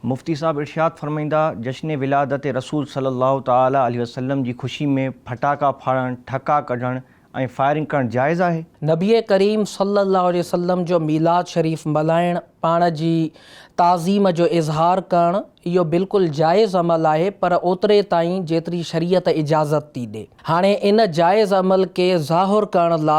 مفتي صاحب ارشاد فرمائيندا، جشن ولادت رسول صلي الله تعالي عليه وسلم جي خوشي ۾ ڦٽاڪا ڦاڙڻ، ٺڪا ڪڍڻ ۽ فائرنگ ڪرڻ جائز آهي؟ نبي ڪريم صلي الله عليه وسلم جو ميلاد شريف ملهائڻ، پاڻ جي تعظيم جو اظهار ڪرڻ، اهو بلڪل جائز عمل آهي پر اوتري تائين جيتري شريعت اجازت ٿي ڏي. هاڻي ان جائز عمل کي ظاهر ڪرڻ لا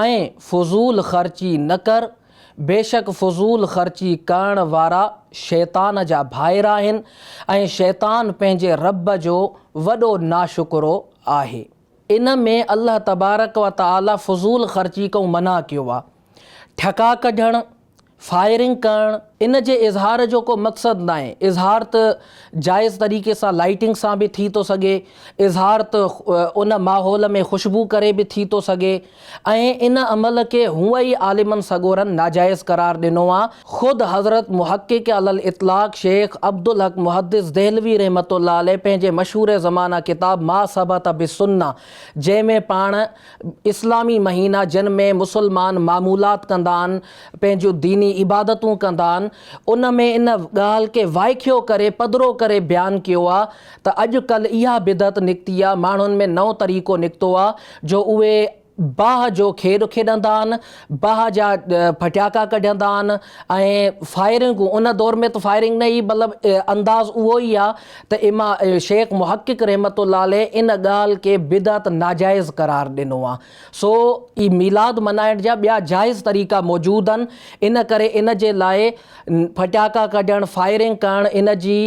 ۽ فضول خرچي نه ڪر، بيشڪ فضول خرچي ڪرڻ وارا شيطان جا ڀائر آهن ۽ شيطان پنهنجي رب جو وڏو ناشڪرو آهي. ان ۾ الله تبارڪ و تعالي فضول خرچي کان منع ڪيو آهي. ٺڪا ڪڍڻ، فائرنگ ڪرڻ ان جي اظهار جو ڪو مقصد ناهي، اظهار ته جائز طريقي سان لائيٽنگ سان به ٿي ٿو سگهي، اظهار ته ان ماحول ۾ خوشبو ڪري به ٿي ٿو سگهي ۽ ان عمل کي هونء ئي عالمن سڳورن ناجائز قرار ڏنو آ، خود حضرت محقق علي الاطلاق شيخ عبدالحق محدث دهلوي رحمة الله عليه پنهنجي مشهور زمانه ڪتاب ما ثبت بالسنة جنهن ۾ پاڻ. اسلامي مهينا جن ۾ مسلمان معمولات ڪندا آهن پنهنجون ديني عبادتون ڪندا آهن ان ۾ ان ڳالهه کي وائکيو ڪري پڌرو ڪري بيان ڪيو آ ته اڄ ڪلهه اها بدعت نڪتي آ ماڻهن ۾ نئون طريقو نڪتو آ جو اهي باهه جو کيڏ کيڏندا آهن باهه جا ڦٽياڪا ڪڍندا آهن ۽ فائرنگون ان دور ۾ ته فائرنگ نه هئي مطلب انداز اهو ئي آهي ته اما شيخ محقق رحمت الله عليه ان ڳالهه کي بدعت ناجائز قرار ڏنو آهي سو ئي ميلاد منائڻ جا ٻيا جائز طريقا موجود آهن ان ڪري ان جي لاء ڦٽياڪا ڪڍڻ فائرنگ ڪرڻ ان جي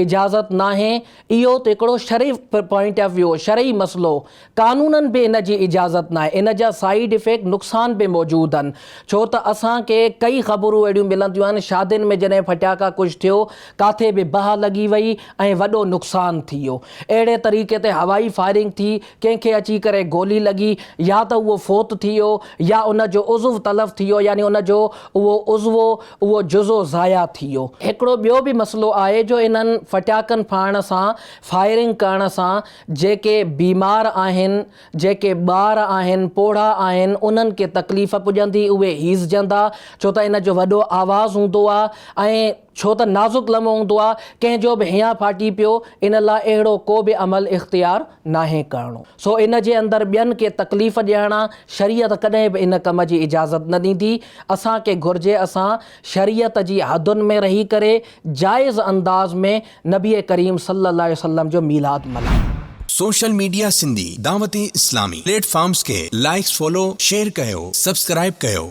اجازت ناهي اهو ته هڪڙو شرعي پوائنٽ آف ويو شرعي مسئلو قانونن به ان جي اجازت ناهي، ان جا سائيڊ افيڪٽ، نقصان، به موجود آهن، ڇو ته اسان کي ڪئي خبرون اهڙيون ملنديون آهن، شادين ۾ جڏهن ڦٽاڪا ڪش ٿيو، ڪاٿي به باهه لڳي وئي ۽ وڏو نقصان ٿي ويو. اهڙي طريقي تي هوائي فائرنگ ٿي، ڪنهن کي اچي ڪري گولي لڳي، يا ته اهو فوت ٿي ويو، يا ان جو عضو تلف ٿي ويو، يعني ان جو اهو عضوو، اهو جزو ضايع ٿي ويو. هڪڙو ٻيو به مسئلو آهي جو انهن ڦٽاڪن ڦاڙڻ سان، فائرنگ ڪرڻ سان، جيڪي بيمار آهن، جيڪي ٻار آهن، پوڙها آهن، انهن کي تڪليف پڄندي، اهي هيسجندا، ڇو ته ان جو وڏو آواز هوندو آ ۽ ڇو ته نازڪ لمحو هوندو آ، ڪنهن جو به هيان ڦاٽي پيو، ان لاء اهڙو ڪو به عمل اختيار ناهي ڪرڻو. سو ان جي اندر ٻين کي تڪليف ڏيڻ آ، شريعت ڪڏهن به ان ڪم جي اجازت نه ڏيندي، اسان کي گهرجي اسان شريعت جي حدن ۾ رهي ڪري جائز انداز ۾ نبي ڪريم صلي الله عليه وسلم جو ميلاد ملهايو. Social media Sindhi Dawat Islami platforms کي لائيڪس فالو شيئر ڪيو سبسڪرائيب ڪيو.